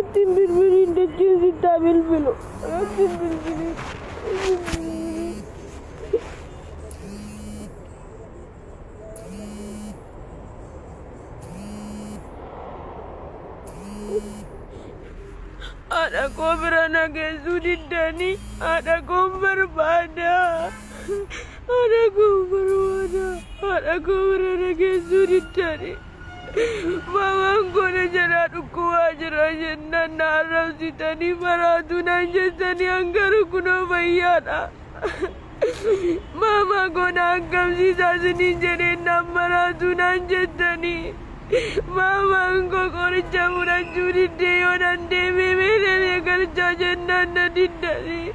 Ittiin bilbiliin dachiin sittaa bilbilu. Ittiin bilbiliin. Haadha koo bira na geessuu diddanii haadha koon barbaada. Haadha koo barbaada. Haadha koo bira na geessuu diddaani. Maamaan koo na jalaa dhukkubaa jira jennaan na arrabsitanii maraatuu naan jettanii an garuu kunoo fayyaadha. Maamaa koo na akkamsiisaa isiniin jedheen naan maraatuu naan jettanii. Maamaan koo qoricha fudhachuu diddee yoo nan deemee meelee galchaa jennaan na diddanii.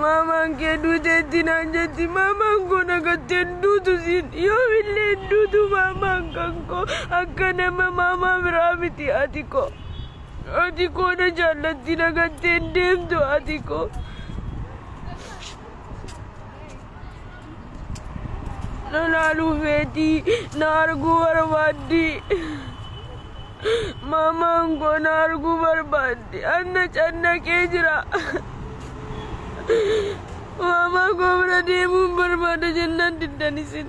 Maamaan kee duuteetti naan jetti. Maamaan koo dhagattee hin duutu siin. Yoomillee hin duutu maamaan kan koo. Akka nama maamaa biraa miti ati koo. Ati koo na jaallatti dhagattee hin deemtu ati koo. Na laaluu feetii na arguu barbaaddi. Maamaan koo na arguu barbaaddi. Anna cannaqee jira. Maamaa koo bira deemuun barbaada jennaan diddan isin.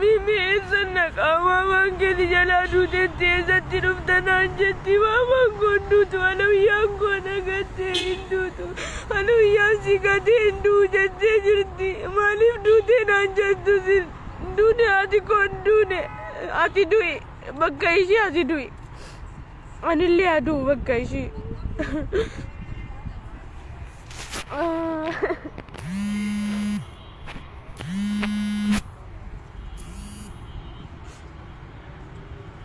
Mimi eessan dhaqaa maamaan kee si jalaa duuteetti eessatti dhufta naan jetti maamaan koo hin duutu alawiyyaan koo na gattee hin duutu alawiyyaan si gatee hin du'u jettee jirti maaliif duutee naan jettu sin hin duune haati koo hin duune ati du'i bakka ishii ati du'i anillee haa du'u bakka ishii.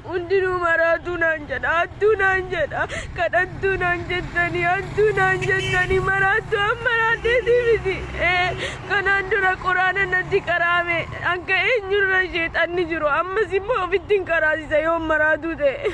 hundinuu maraatuu naan jedha hattuu naan jedha kadhattuu naan jettanii hattuu naan jettanii maraattuu an maraatteetii miti Eh, kanaan dura quraana natti qaraame akka eenyurra sheexanni jiru ammas immoo ofittiin qaraasisa yoo maraatuu ta'e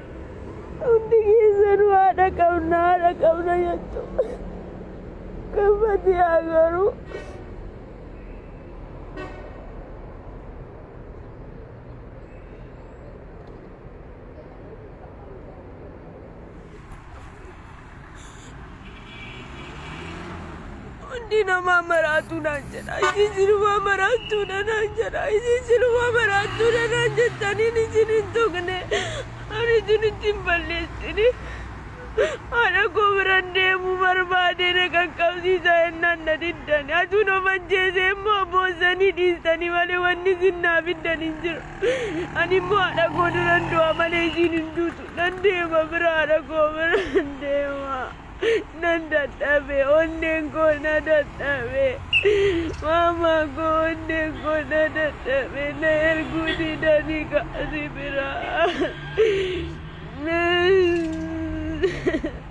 Hundi keessanuu haadha qabna haadha qabna jettu. Kan Fatiyaa garuu Hundi namaa maraatuu naan jedha. Isin silumaa maraattuudha naan jedha. Isin silumaa maraattuudha naan jettaniin isin hin tuqne. Ani isin ittiin balleessine. Haadha koo biran deemuu barbaade na qaqqabsiisa jennaan na diddani. Atuun of ajjeesee immoo boossanii dhiistanii malee wanni isin naa fiddan hin jiru. Ani immoo haadha koo duran du'a malee ishiin hin duutu. Nan deema bira haadha koo bira nan deema. Nan dadhabe onneen koo na dadhabe. Maamaa koo onneen koo na dadhabe na erguu didanii kaasi bira.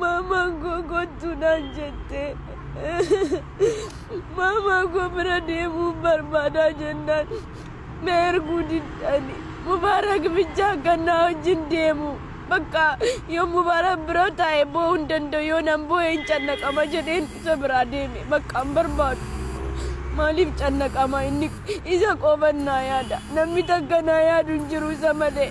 Maamaan koo kottu naan jette. Maamaa koo bira deemuu barbaadaa jennaan na erguu diddani. Mubaarak bicha akka na wajjin deemu bakka yoo Mubaarak bira taa'e boo'uu hin danda'u yoo nan boo'e hin cannaqama jedheen isa biraa deeme bakka hin barbaadu. Maaliif cannaqama inni isa qofan naa yaada namni takka naa yaadu hin jiru isa malee.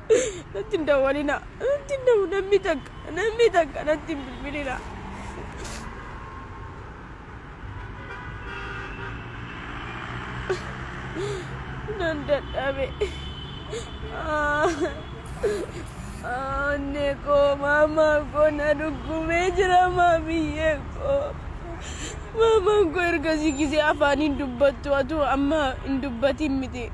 natti hin dawwalina natti hin dawwu namni takka namni takka natti hin bilbilina. nan dadhabe onne koo maamaa koo na dhukkubee jira maamiyyee koo maamaan koo ergasii gisee afaaniin dubbattu atuu amma hin dubbatin miti.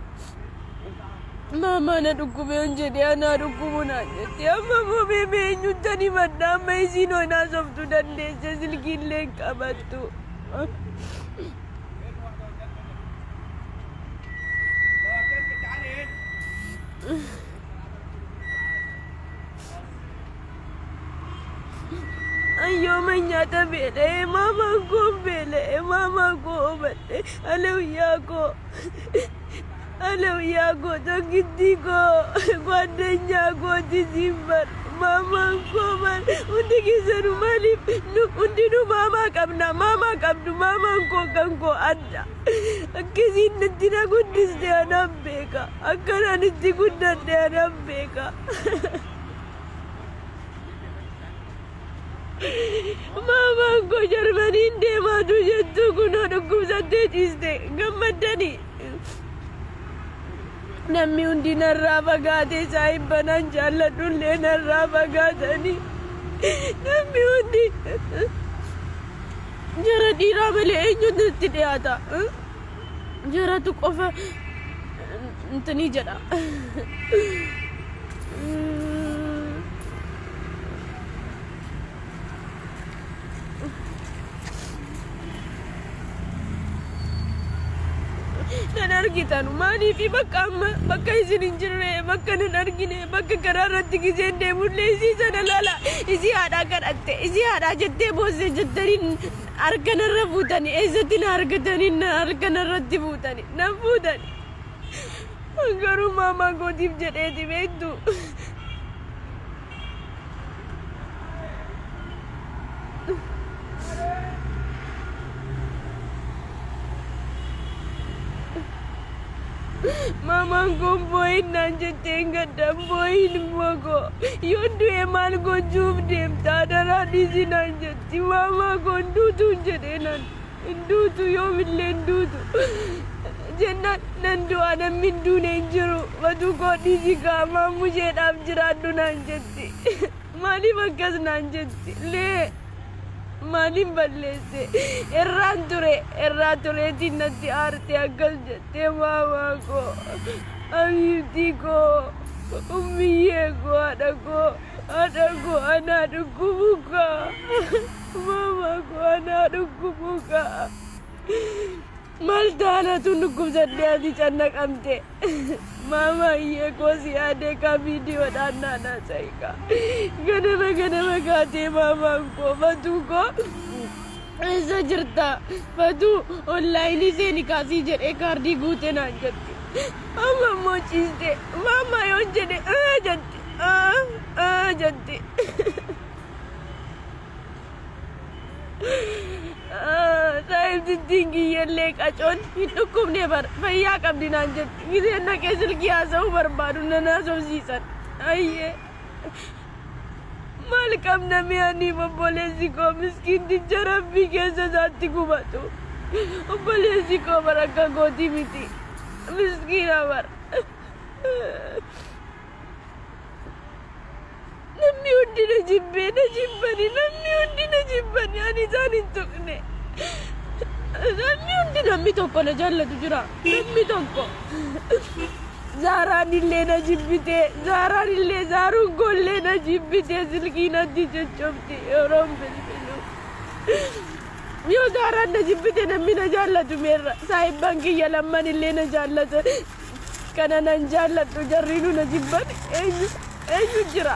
Maamaa na dhukkube yoon jedhee anaa dhukkubu naan jetti. Amma immoo mee mee eenyuttan himadha amma isiin hoon haasoftu dandeesse silkiillee hin qabattu. Ayyooma nyaata beela'e maamaa koo beela'e maamaa koo obadhe alawiyyaa koo. Alawyaa koo tokkittii koo gwaaddanyaa kooti siin bar maamaan koo bar hundi keessanu maaliif nu hundinuu maamaa qabna maamaa qabdu maamaan koo kan koo adda akkasiin natti na guddiste anaaf beeka akkanaan itti guddadhe anaaf beeka. Maamaan koo Jarmaniin deemaatu jettuu kunoo dhukkubsattee ciiste gammaddani. Namni hundi narraa fagaatee saahibbanaan jaalladhullee narraa fagaatani. Namni hundi jara dhiiraa malee eenyutu itti dhiyaata? jaratu qofa intini jedha nan argitan maaliifi bakka amma bakka isin hin jirre bakka nan argine bakka karaa irratti giseen deemullee isii sana lala isii haadhaa kadhatte isii haadhaa jettee boosse jettaniin Harka narra fuutani eessatti na argatani na harka narratti fuutani na fuutani garuu maamaa kootiif jedheeti beektu. Maamaan koo boo'in naan jetteen gadda boo'in immoo koo yoo du'e maal gochuuf deemta adaraa dhiisi naan jette. Dimaamaa koo hin duutuun jedhee naan hin duutu yoomillee hin duutu jennaan nan du'aa namni hin duune hin jiru batuu koo dhiisi kaa maammusheedhaaf jiraadhu naan jetti maaliif akkas naan jetti lee maaliin balleesse irraan ture irraa tureetiin natti aarte akkas jettee maamaa koo abiibtii koo ummiyyee koo haadha koo. Haadha koo anaa dhukkubu kaa. Maama koo anaa dhukkubu kaa. Maal taanatu dhukkubsattee ati cannaqamte. Maama hiyyee koo si yaadee kaa viidiyoodhaan naanaa sa'i kaa. Ganama ganama kaatee maamaan koo fatuu koo. Eessa jirta? Fatuu onlaayinii seeni kaasii jedhee kaardii guute naan jette. Amma immoo ciiste. Maama yoon jedhe ee jette. Aa aa jetti. Saayib jijjiin kiyyallee qacoon hin dhukkubne bar fayyaa qabdi naan jetti. Giseen dhaqee silkii haasa'uu barbaadu nan haasofsiisan. Ayyee. Maal qabna mi'aanii obboleessi koo miskiin tijja rabbii keessa isaatti gubatu. Obboleessi koo bar akka gootii miti. Miskiina bar. Namni hundi na jibbee na jibbani namni hundi na jibbani ani isaan hin tuqne. Namni hundi namni tokko na jaallatu jira namni tokko. Zaaraan illee na jibbite zaaraan illee zaaruun koollee na jibbite silkii natti coccobdi yeroon bilbilu. Yoo zaaraan na jibbite namni na jaallatu meerra saahibban kiyya lamman illee na jaallatan. Kana nan jaalladhu jarriinu na jibban eenyu eenyu jira.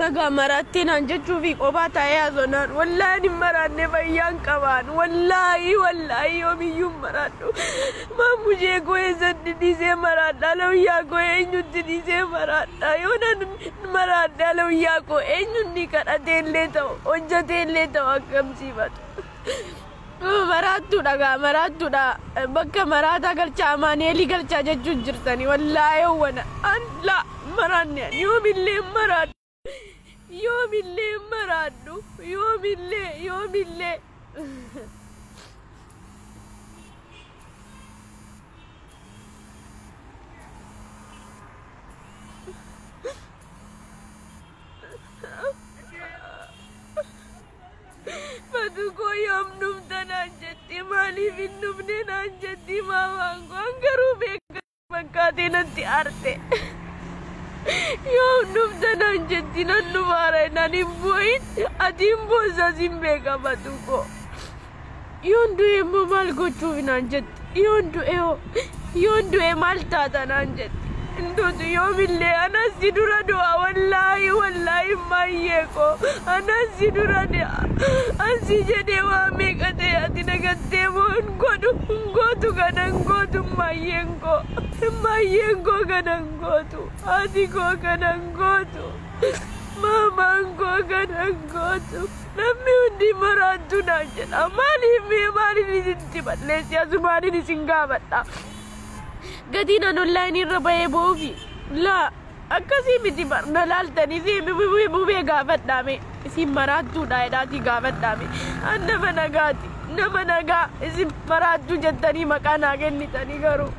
Magaa maraattii naan jechuu fi kophaa taa'ee haasonaan wallaahi hin maraanne fayyaan qabaan wallaahi wallaahi yoomiyyuu hin maraadhu maamushee koo eessatti dhiisee maraadha lawiyyaa koo eenyutti dhiisee maraadha yoo nan maraadha lawiyyaa koo eenyutti kadhatee illee ta'u hojjetee illee ta'u akkamsiifatu. Maraattuu dha gaa maraattuu dha bakka maraataa galchaa amaaneelii galchaa jechuun jirtani wallaayee wana an la maraanne an yoomillee hin maraadhu yoomillee hin maraadhu yoomillee yoomillee Batu koo yoom dhufta naan jetti maaliif hin dhufne naan jetti maamaan koo an garuu beekan fakkaatee natti arte. Yoom dhufta naan jetti nan dhufaara naan hin boo'in ati hin boosas hin beeka batu koo. Yoon du'e immoo maal gochuuf naan jetti. Yoon du'e hoo yoon du'e maal taata naan jetti. Hinduutu yoomillee anas si dura du'a wallaahi wallaahi maayyee koo anas si dura du'a. Ansi jedhee waa meeqa ta'e ati nagattee moo hin godhu hin gootu kana hin gootu maayyeen koo. Maayyeen koo kana hin gootu haati koo kana hin gootu maamaan koo kana hin gootu. Namni hundi maraattuu naan jedha. Maaliif mee maaliin isinitti balleessi asumaaniin isin gaafadha. Gatiin an onlaayinii irra bahee boofi. Laa akkasii miti bar na laaltanii fi bubee bubee gaafadhaame. Isin maraattuudha jedhaatii gaafadhaame. An nama nagaati. Nama nagaa isin maraattuu jettanii maqaa naa kennitanii garuu.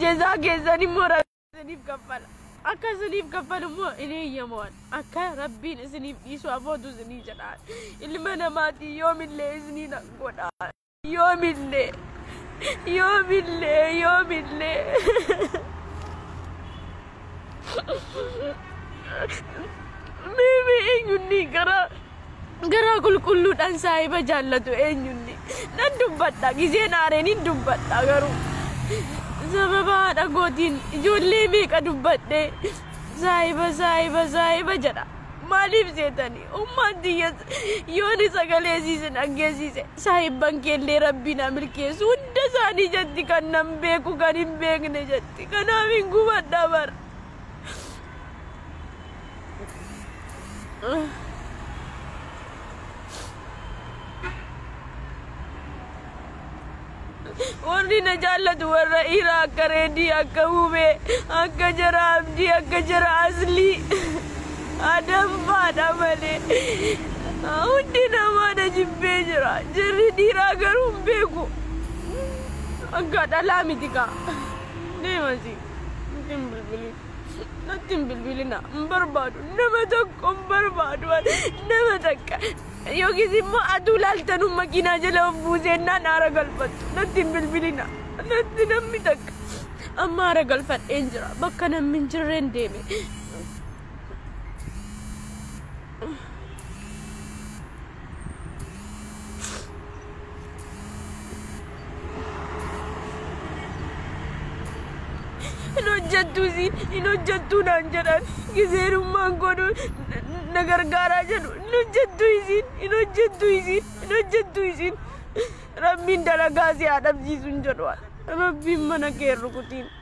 Jezaa keessan immoo isiniif kaffala. Akka isiniif kaffalu immoo hin eeyyamuwan. Akka Rabbiin isiniif dhiisu abootu isinii jedhaan. Ilma namaatii yoomillee isinii nan godhaan. Yoomillee. Yoomillee. Yoomillee. Miimi eenyuun ni garaa. Garaa qulqulluudhaan saahiba jaallatu eenyullee nan dubbadha. Gizeen aaree nin dubbadha garuu sababa haadha kootiin ijoollee meeqa dubbadhee saahiba saahiba saahiba jedha. Maaliif seetanii ummaan tiyya yooni sagalee isiisin dhaggeessiise saahibban keellee rabbii na milkeessu hunda isaanii jetti kan nan beeku kan hin beekne jetti kanaaf hin gubadha bara. warri na jaallatu warra dhiiraa akka reedii akka hubee akka jara abdii akka jara aslii adamfaadha malee hundi namaa na jibbee jira jirri dhiiraa garuu hin beeku akka dhalaa miti kaa deemasi hin bilbilin. Natti hin bilbilina. Hin barbaadu. Nama tokko hin barbaadu. Nama takka. Yookiis immoo aduu laaltanuu makiinaa jala of buuseennaan aara galfattu. Natti hin bilbilina. Natti namni takka. Amma aara galfadheen jira. Bakka namni hin jirreen deeme. hin hojjettuu si hin hojjettuu naan jedhan gizeerummaan godhu na gargaaraa jedhu hin hojjettuu isiin hin hojjettuu isiin hin hojjettuu isiin rabbiin dalagaa si haa dhabsiisu hin jedhu rabbiin mana kee rukutiin.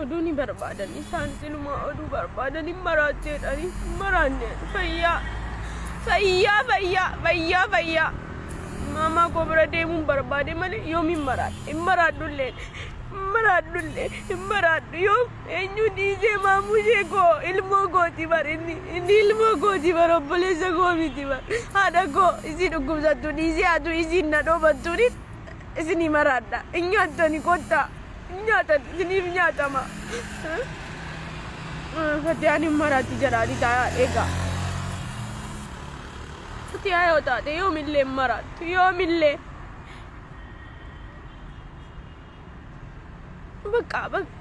Oduu ni barbaadan isaan silumaa oduu barbaadan hin maraatteedhani hin maraanne fayyaa fayyaa fayyaa fayyaa fayyaa maamaa koo bira deemuun barbaade malee yoom hin maraadhe hin maraadhullee hin maraadhullee hin maraadhu yoom eenyu dhiisee maamuu ishee koo ilmoo kooti bar inni inni ilmoo kooti bar obboleessa koo miti bar haadha koo isii dhukkubsattu dhiisee atu isiin na dhoobattuunis Isinii maraadha. Hin nyaattani kottaa. Hin nyaatan. Isiniif nyaatama. Fatiyaan hin maraatti jedhaani taa'aa eegaa. Fatiyaa yoo taate yoomillee hin maraattu. Yoomillee. Bakka bakka.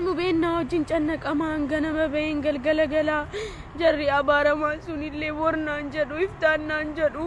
Mubeennaa wajjin cannaqamaan ganama baheen galgala galaa jarri abaaramaan sunillee bornaan jedhu iftaannaan jedhu.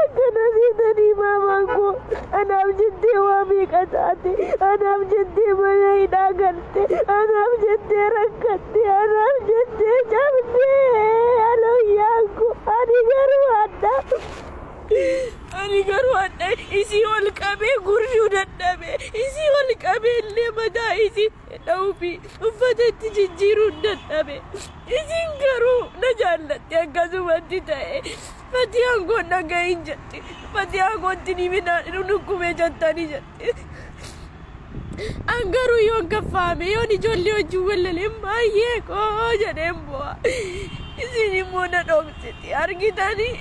Akkana seetanii maamaan koo anaaf jettee waa meeqa taate anaaf jettee mana hidhaa galte anaaf jettee rakkatte anaaf jettee cabdee alooyyaan koo ani garuu hadha ani garuu hadha isii ol qabee gurjuu dadhabe isii ol qabee illee mataa isii dha'uufi uffatatti jijjiiruun dadhabe. Isiin garuu na jaallatti akkasumatti ta'e. Fatiyaan koo dhagahin jetti. Fatiyaa kootti ni midhaan nu dhukkubee jettani jetti. An garuu yoon kaffaame yoon ijoollee wajjin wallaleen baay'ee koo jedheen bu'a. Isiin immoo na dhoksiti argitanii.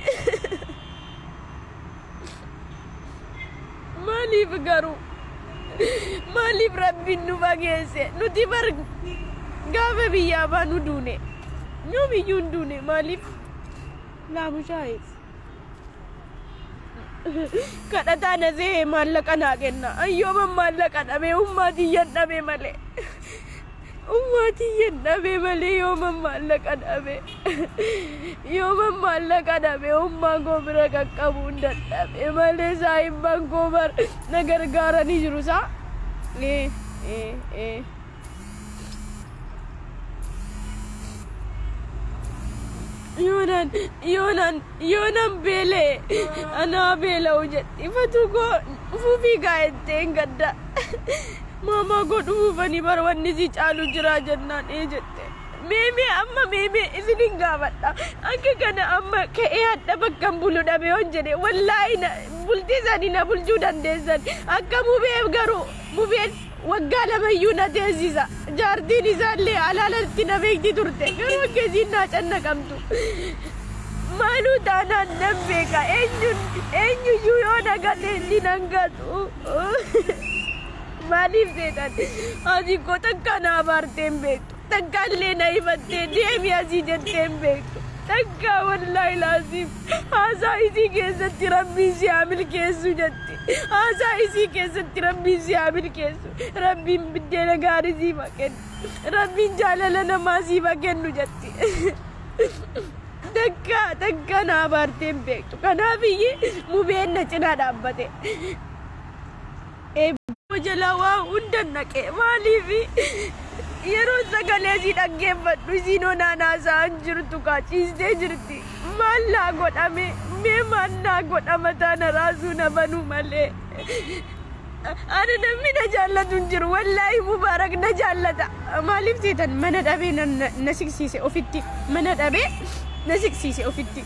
Maaliif garuu? Maaliif rabbiin nu fageesse? Nuti bar gaafa biyyaa baanu duune. Yoomiyyuu hin duune maaliif? Laamushaa'e. Kadhataa na see'e maallaqa naa kenna. Ayyooman maallaqa dhabee ummaa tiyyan dhabee malee. Ummaa tiyyan dhabe malee yooman maallaqa dhabe. Yooman maallaqa dhabe ummaa koo bira qaqqabuun dadhabe malee saahibban koo bar na gargaaranii jiru saa. Ee, ee, ee. Yoonan, yoonan Yoonan beela'e ana haa beela'u jedhi fatuu koo dhufuufii gaa jetteen gadda maamaa koo dhufuufanii bara wanni sii caalu jiraa jennaan ee jette meemee amma meemee isinin gaafadha akka kana amma ka'ee hadha bakkan bulu dhabe yoon jedhe wallaahi bultii sani na bulchuu dandeessan akka mubeef garuu mubeen Waggaa lamayyuu na teessisa. Jaartiin isaallee alaalatti na beekti turte. Garuu akka isiin naa cannaqamtu. Maaluu taanaan nan beeka. Eenyuyyuu yoo na gate inni nan gatu. Maaliif seetan? Haati koo takka na abaartee hin beektu. Takka illee na himattee deemi asii jettee hin beektu. Takka wallaahi laaziim haasaa isii keessatti rabbiin si haa milkeessu jetti. Haasaa isii keessatti rabbiin si haa milkeessu. Rabbiin biddeena gaarii siif haa kennu. Rabbiin jaalala namaa siif haa kennu jetti. Takka takka na abaartee hin beektu. Kanaaf iyyee mubeen na cinaa dhaabbate. Eebboo jala waa hundan dhaqe maaliif yeroo sagalee isii dhaggeeffadhu isiin onaan haasa'an jirtu kaa ciistee jirti maal naa godhame mee maal naa godha mataa na raasuu na banuu malee ani namni na jaallatu hin jiru wallaahi mubaarak na jaallata maaliif teetan mana dhabee na siqsiise ofitti mana dhabee na siqsiise ofitti.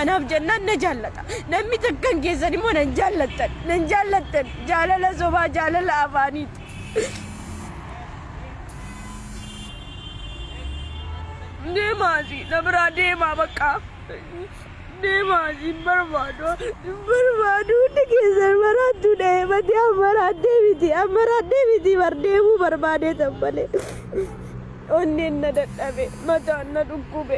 Anaaf jennaan na jaallata. Namni takkan keessan immoo nan jaallattan. Nan jaallattan. Jaalala sobaa jaalala afaaniiti. Deemaasi na biraa deemaa bakka. Deemaasi hin barbaadu. Hin barbaadu hundi keessan maraattuu dha'ee mati ammaraadhee miti ammaraadhee miti bar deemuu barbaadee tan malee. Onneen na dadhabe mataan na dhukkube.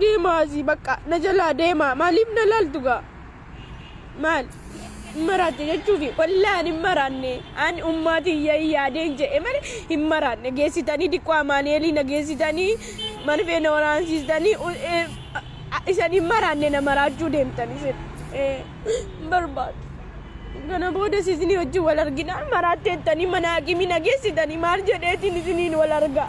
Deemaa asii bakka na jalaa deemaa maaliif na laaltu gaa? Maal? Hin maraatte jechuufi wallaahi ani hin maraanne ani ummaatiin yaa'ii yaadeen jedhe malee hin maraanne geessitanii diqqoo amaaneelii na geessitanii marfee na waraansiistanii u- ee, a- isan hin maraanne na maraachuu deemtan isin. Ee. hin barbaadu. Kana boodas isinii wajjin wal arginaan maraatteettanii mana haakimii na geessitanii maal jedheetiin isiniin wal argaa.